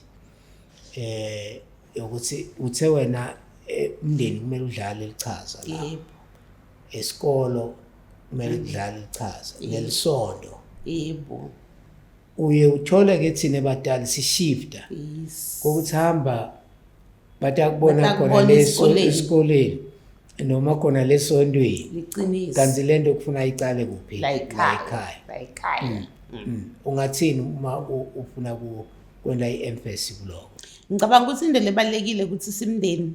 eh ukuthi uthe wena eh, umndeni kumele udlale lichaza la yebo esikolo kumele kudlale lichaza ngelisonto yebo uye uthole ke thina batali sishifta yes kokuthi hamba bathi akubona Bathi khona akubona leso esikoleni. esikoleni noma khona lesontweni liqiniso kanti le nto kufuna iqale kuphi la ekhaya la ekhaya Mm. ungathini uma u- ufuna ku- kwela i-emphasis kuloko ngicabanga ukuthi into lebalulekile ukuthi simndeni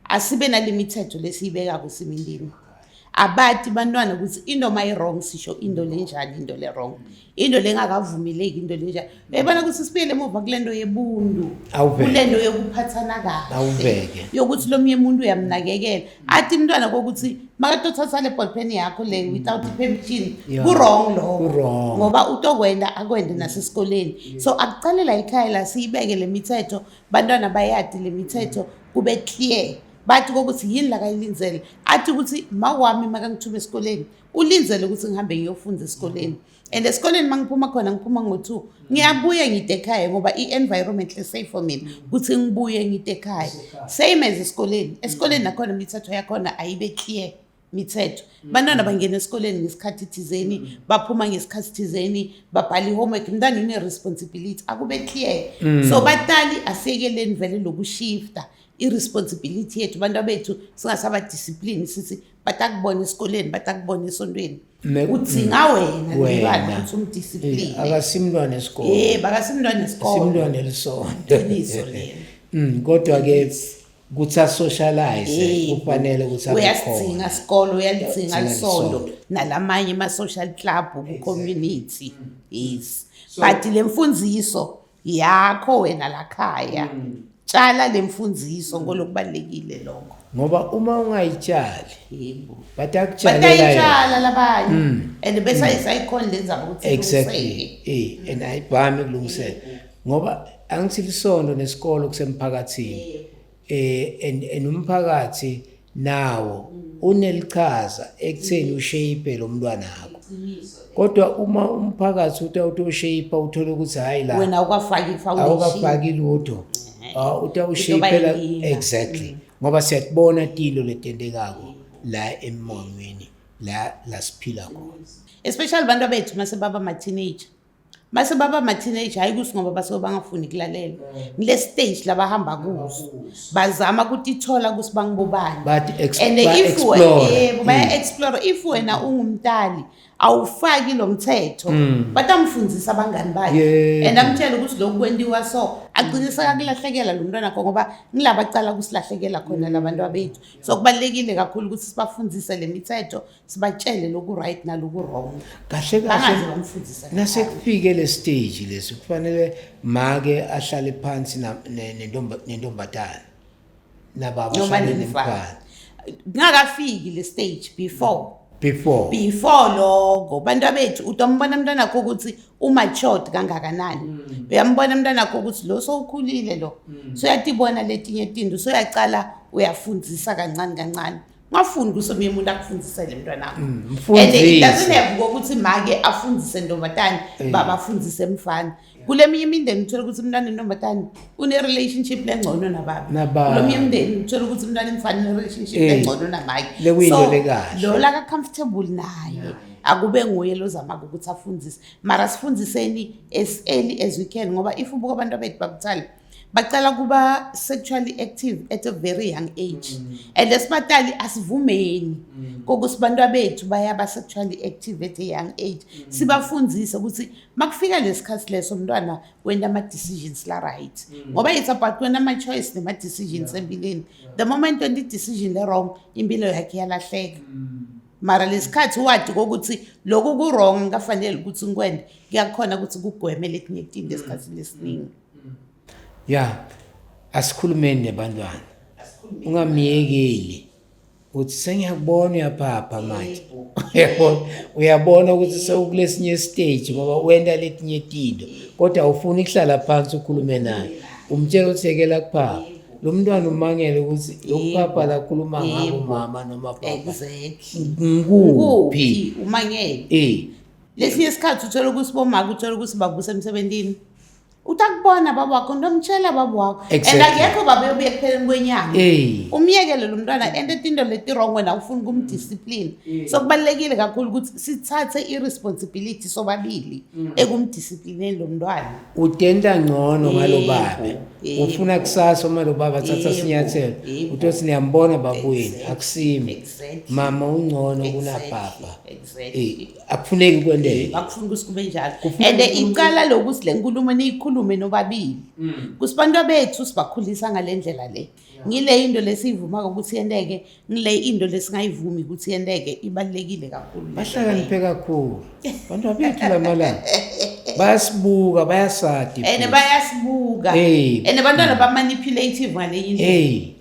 asibe nale mithetho lesiyibekako simindini abati bantwana ukuthi into mayi-wrong sisho into lenjani into le-wrong into lengakavumeleki into lenjani uyayibona ukuthi sibuyele emuva kule nto yebuntu kule nto yokuphathana kahle yokuthi lo mnye muntu uyamnakekela athi umntwana kokuthi makatothatha le ballpen yakho le mm. without permission ku-wrong lowo ngoba utokwenda akwende nasesikoleni so akuqale la ikhaya la siyibeke le mithetho bantwana bayadi le mithetho kube clear bathi kokuthi yini lakayilindele athi ukuthi mawami makangithume esikoleni ulindele ukuthi ngihambe ngiyofunda esikoleni mm. and esikoleni uma ngiphuma khona ngiphuma ngo-two ngiyabuye ngide ekhaya ngoba i-environment le-safe for mina ukuthi ngibuye ngide ekhaya same as esikoleni esikoleni nakhona imithetho yakhona ayibe clear mithetho mm. bantwana bangena esikoleni ngesikhathi thizeni mm. baphuma ngesikhathi thizeni babhala i-homework mntana une-responsibility akube clear mm. so batali asiyekeleni vele lokushifta i-responsibility yethu abantu abethu singasabadisciplini sithi batakubona esikoleni batakubona esontweni mekudzinga wena lomntwana ukuthi umdisipline akasimntwana esikole yebo akasimntwana esikole simntwana elisonto iqiniso lelo mm kodwa ke ukuthi asocialize kufanele ukuthi uyasidinga isikole uyalidinga lisonto nalamanye ama social club ku community yes but lemfundiso yakho wena lakhaya mm. tshala le mfundiso ngolokubalulekile lokho ngoba uma ungayitshali yebo but akutshalelayitshala labanye mm. and bese mm. isayikhona lenzaba ukuthi exactly eh and ayibhami kulungisela ngoba angithi lisondo nesikolo kusemphakathini eh and and umphakathi nawo unelichaza ekutheni ushape lo mntwana wakho kodwa uma umphakathi uthi awutoshape uthole ukuthi hayi la wena awukafaki foundation awukafaki lutho ah, uthi awushape la exactly mm. ngoba siyakubona tilo letendekako la emongweni la la siphila khona especially abantu abethu mase baba ma teenager base baba ama-teenage hhayi kusi ngoba basuke bangafuni kulalela mm. ngile stage labahamba kuso bazama ukuthi ithola kusi bangibobani and if yebo baya-explore mm. if wena ungumtali awufaki lo mthetho mm. but amfundisa abangani bakhe and amtshele ukuthi lokhu kwentiwa so agcine sekakulahlekela lo mntwana kho ngoba ngilabacala kusilahlekela khona labantu abethu so kubalulekile kakhulu ukuthi sibafundise le mithetho sibatshele loku right naloku wrong kahle kahle nasekufike le stage lesi kufanele make ahlale phansi nentombazane nababa ahlale nemfana ngakafiki le stage before before before lokho bantu abethu utombona mntwana wakho ukuthi umatured kangakanani mm. uyambona mntwana wakho ukuthi lo sowukhulile lo mm. soyatibona letinye tinto soyacala uyafundisa kancane kancane ngafuni kuso mina umuntu akufundisele mntwanami mm, and it doesn't have ukuthi make afundise ntombazane eh. baba afundise mfana kule minye imindeni uthola ukuthi umntwana entombazane une-relationship lengcono nababkulo minye imindeni uthola ukuthi umntwana emfana une-relationship eh. lengcono namake so lo laka-comfortable naye akube nguye lozamaka ukuthi afundise mara sifundiseni as early as we can ngoba if ubuka abantu abethu bakuthale bacala ukuba sexually active at a very young age mm. and esibatali asivumeni mm. kokuthi bantu abethu bayaba sexually active at a young age mm. sibafundise ukuthi makufika lesikhathi leso mntwana wena ama decisions la right mm. ngoba it's about wena ama choice nema decisions yeah. empilweni yeah. the moment when the decision le wrong impilo yakhe yalahleka mm. mara lesikhathi wadi kokuthi lokhu ku wrong kafanele ukuthi ngikwende kuyakhona ukuthi kugwemele kunye itinto esikhathini esiningi mm. ya asikhulumeni nebantwana ungamyekeli uthi sengiyakubona uyaphapha manje uyabona uyabona ukuthi sewukulesinye stage ngoba wenda letinye tinto kodwa awufuni kuhlala phansi ukhulume naye umtshela ukuthi yekela kuphapha lo mntwana umangele ukuthi lokuphapha lakhuluma ngabo mama noma baba exactly ngikuphi umangele eh lesinye isikhathi uthola ukuthi bomaka uthola ukuthi babusa emsebenzini utakubona baba wakho ntomtshela baba wakho exactly. and akekho baba yobuye ekupheleni kwenyanga hey. umyekele lo mntwana and etinto leti-wrong wena ufuna ukumdiscipline hey. so kubalulekile kakhulu ukuthi sithathe i-responsibility sobabili mm. ekumdisciplineni lo mntwana utenta ngcono ngalo baba ufuna kusasa uma lo baba athatha sinyathelo uthi othi niyambona babuyini akusimi mama ungcono kunabhabha exactly. akufuneki kwendeke akufuni ukuthi kube njalo and iqala lokuthi le nkulumo niyikhulume nobabili mm. kusibantu bethu sibakhulisa ngale ndlela le ngile into lesiyivuma ukuthi yenteke ngile into lesingayivumi ukuthi yenteke ibalekile kakhulu bahlakaniphe kakhulu bantu abethu lamalanga bayasibuka bayasadi and bayasibuka and abantwana bamanipulative ngale into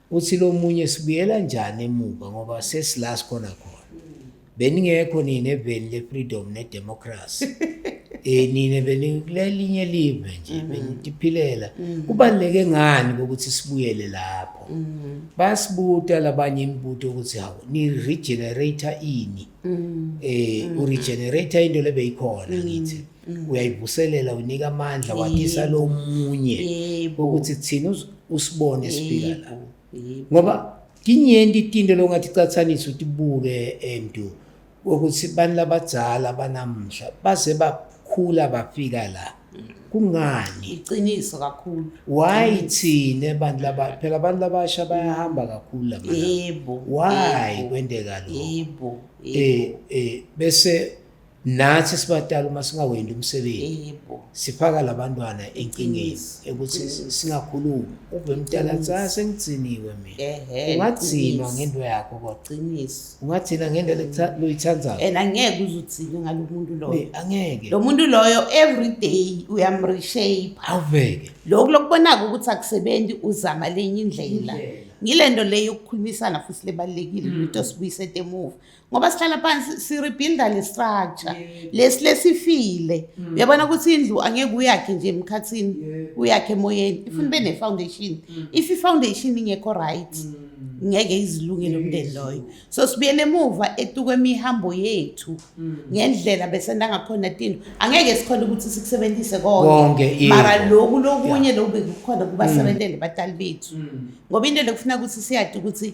uthi lo munye sibuyela njani emuva ngoba sesila sikhona khona beningekho nini eveni le-freedom ne-democracy um nina benikulelinye live nje mm-hmm. benitiphilela mm-hmm. kubaluleke ngani kokuthi sibuyele lapho mm-hmm. basibuta labanye imibuto ukuthi hawu ni-regenerator ini um uregenerator into lebeyikhona ngithi mm. uyayivuselela unika amandla watisa lomunye ukuthi thina usibone sifika la ngoba tinyenti tinto longathi cathanisa utibuke endu eh, ukuthi bani labadzala banamhla base bakhula bafika la kungani iqiniso kakhulu why thina abantu laba phela abantu labasha bayahamba kakhulu la yebo why kwendeka lo yebo eh eh bese nathi sibatala uma singawendi umsebenzi sifaka labantwana enkingeni ukuthi singakhulumi uve mtala cha sengigciniwe mina ungagcinwa ngento yakho kodwaqiniso ungagcina ngento loyithandayo and angeke uzugcine ngalo muntu loyo angeke lo muntu loyo every day uyamreshape awuveke lokhu lokubonaka ukuthi akusebenzi uzama lenye indlela ngile nto leyo yokukhulumisana futhi lebalulekile mm. lento sibuyise emuva ngoba sihlala phansi si-rebuilda le structure lesi lesifile mm. uyabona ukuthi indlu angeke uyakhe nje emkhathini uyakhe emoyeni ifuna ube mm. ne-foundation mm. if i-foundation ingekho right ngeke izilunge lo mndeni loyo so sibuyele emuva etukwemihambo yethu ngendlela besendangakhona tino angeke sikhona ukuthi sikusebenzise konke mara loku lokunye loku bekukhona kubasebentele batali bethu ngoba into lekufuna ukuthi siyade ukuthi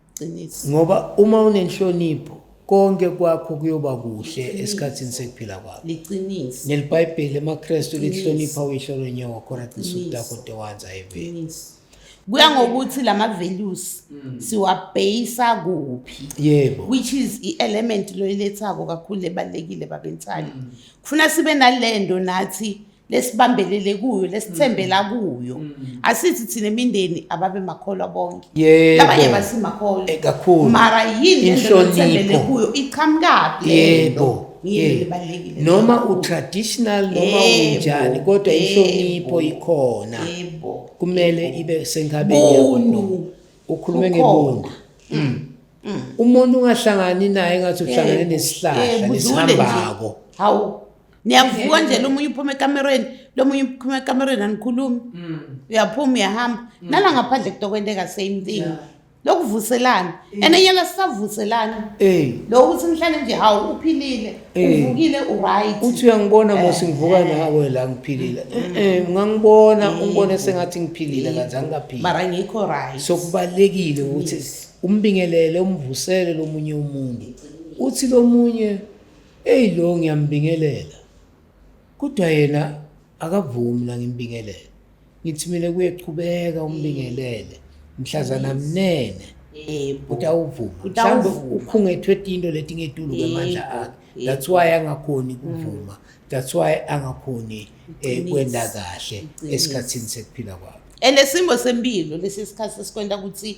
Qiniso. Ngoba uma unenhlonipho konke kwakho kuyoba kuhle esikhathini sekuphila kwakho. Liqiniso. NeliBhayibheli emaKristu lihlonipha uyihlo lonyoko khona qinisa utakho dewanza eveni. Kuya ngokuthi lama values mm. siwabhayisa kuphi. Yebo. Which is i-element loyilethako kakhulu ebalekile babensali. Mm. Kufuna sibe nalendo nathi lesibambelele kuyo lesithembela mm. kuyo mm. asithi thina imindeni ababe makholwa bonke yebo abanye basimakholwa eh, kakhulu mara yini inhlonipho kuyo iqhamukapi yebo noma utraditional noma unjani kodwa inhlonipho ikhona kumele ibe senkabeni yakho ukhulume ngebuntu mm. umuntu ungahlangani naye ngathi uhlangane eh, nesihlahla eh, nesihambako hawu niyavuka nje lo munye uphuma ekamereni lo munye uphuma ekamereni anikhulumi mm. uyaphuma uyahamba mm. nala ngaphandle kutokwenteka same thing yeah. lokuvuselana mm. and enyela sisavuselana hey. lo ukuthi nihlale nje hawu uphilile hey. uvukile uright uthi uyangibona eh. mose ngivuka eh. nawe la ngiphilile mm. eh, ngangibona mm. ungibone sengathi ngiphilile kanti angingaphili mara ngikho right so kubalekile ukuthi yes. umbingelele umvusele lomunye umuntu uthi lomunye Eyi lo ngiyambingelela kodwa yena akavumi la ngimbingelele. Ngithi mina kuye qhubeka umbingelele mhlazana mnene. Yebo. Utawuvuma. Mhlawumbe Utawuvuma. ukhungethwe tinto leti ngetulu kwemandla Yebo, akhe. yebo. That's why angakhoni kuvuma. That's why angakhoni eh, Iqiniso. kwenta kahle Iqiniso. esikhatsini sekuphila kwakhe. And isimo sempilo lesi sikhathi sesikwenta ukuthi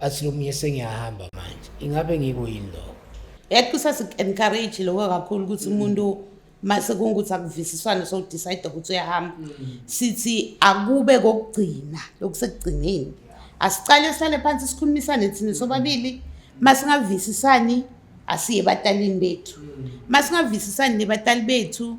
asilumye sengiyahamba manje ingabe ngiko yini lokho yathi kusasi-encourage lokho kakhulu ukuthi umuntu mm -hmm. mase kungukuthi akuvisiswane sowudicide ukuthi uyahamba sithi akube kokugcina lokusekugcineni asicale sihlale phansi sikhulumisane thina sobabili masingavisisani asiye ebatalini bethu masingavisisani nebatali bethu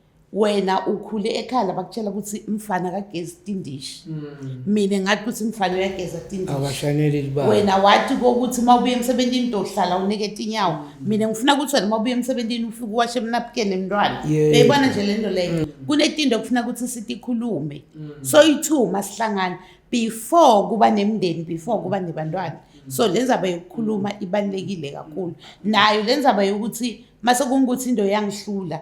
wena ukhule ekhaya labakutshela ukuthi mfana kagezi tindishi mm. mina ngathi ukuthi mfana uyageza tindishiwena wathi kokuthi uma ubuye emsebenzini ntohlala unike tinyawo mm. mina ngifuna ukuthi wena uma ubuye emsebenzini ufike uwashe emnapukeni emntwana beyibona nje le nto leyo mm. kunetinto okufuna ukuthi sitikhulume so i-two masihlangane before kuba nemndeni before kuba nebantwana so le nzaba yokukhuluma ibalulekile kakhulu nayo le nzaba yokuthi mase kungukuthi into yangihlula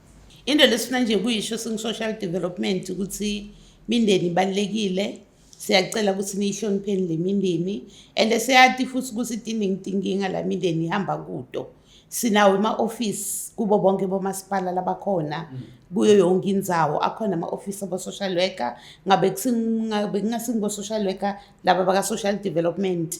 into lesifuna nje kuyisho singu-social development ukuthi mindeni ibalulekile siyacela ukuthi niyihlonipheni le mindeni and siyati futhi ukuthi tiningitinkinga la mindeni ihamba kuto sinawo ema-ofisi kubo bonke bomasipala labakhona mm. kuyo yonke indzawo akhona ama-ofisi abo-social worker ngabe kungasingibo-social worker laba baka-social development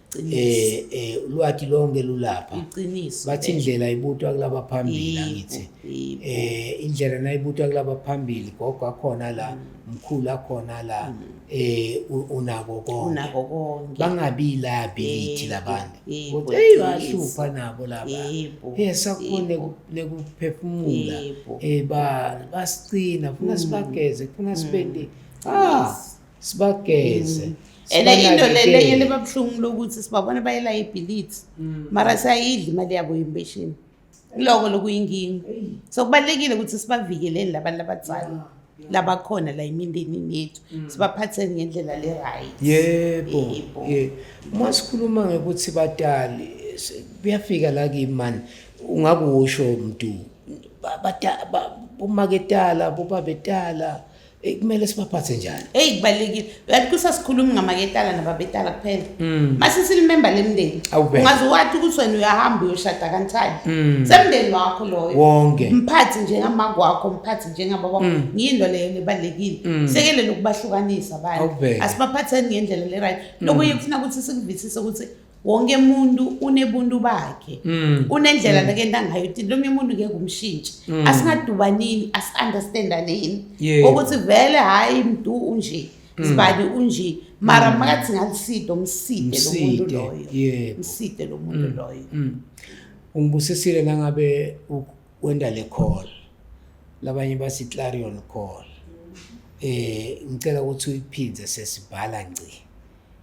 eh eh ulwati lonke lulapha iqiniso bathi indlela ibutwa kulaba phambili ngithi eh indlela nayibutwa kulaba phambili gogo akhona la mkhulu akhona la mm. eh unako konke unako konke bangabi la ability labantu kodwa hey bahlupha nabo laba eh sakhona nekuphefumula eh ba basicina funa mm. sibageze funa sibende mm. ah sibageze mm. and into lenye libabuhlungu lokuthi sibabona bayela ibhilithi mm. mara sayidla imali yabo yempesheni kuloko lokuyinkinga so kubalulekile ukuthi sibavikeleni labantu labadzala labakhona la imindenini yethu mm. sibaphatheni ngendlela le-right yebo uma sikhuluma ngekuthi batali kuyafika la kimi mani ungakusho mdu bomaketala bobabetala Eyi kumele sibaphathe njani? Eyi kubalulekile. Uyathi kusasikhuluma ngamaketala nababetala kuphela. Mm. Mase silimemba lemndeni. Awubheke. Ungaze wathi ukuthi wena uyahamba uyoshada kanjani. Mm. Semndeni wakho loyo. Wonke. Mphathi njengamama wakho, mphathi njengababa wakho. Mm. Ngiyinto leyo lebalekile. Mm. Sekelele ukubahlukanisa abantu. Awubheke. Asibaphatheni ngendlela le right. Lokho yekufuna ukuthi sikuvisise ukuthi wonke muntu unebuntu bakhe mm. unendlela mm. nakenta ngayo ukuthi lo munye umuntu ngeke umshintshe mm. asingadubanini asi-understandaneni ukuthi vele hhayi mdu unje sibani unje mara makathi ngaliside umside lo muntu loyo mside lo muntu loyo ungibusisile nangabe wenda le call labanye basi clarion call eh ngicela ukuthi uyiphindze sesibhala ngci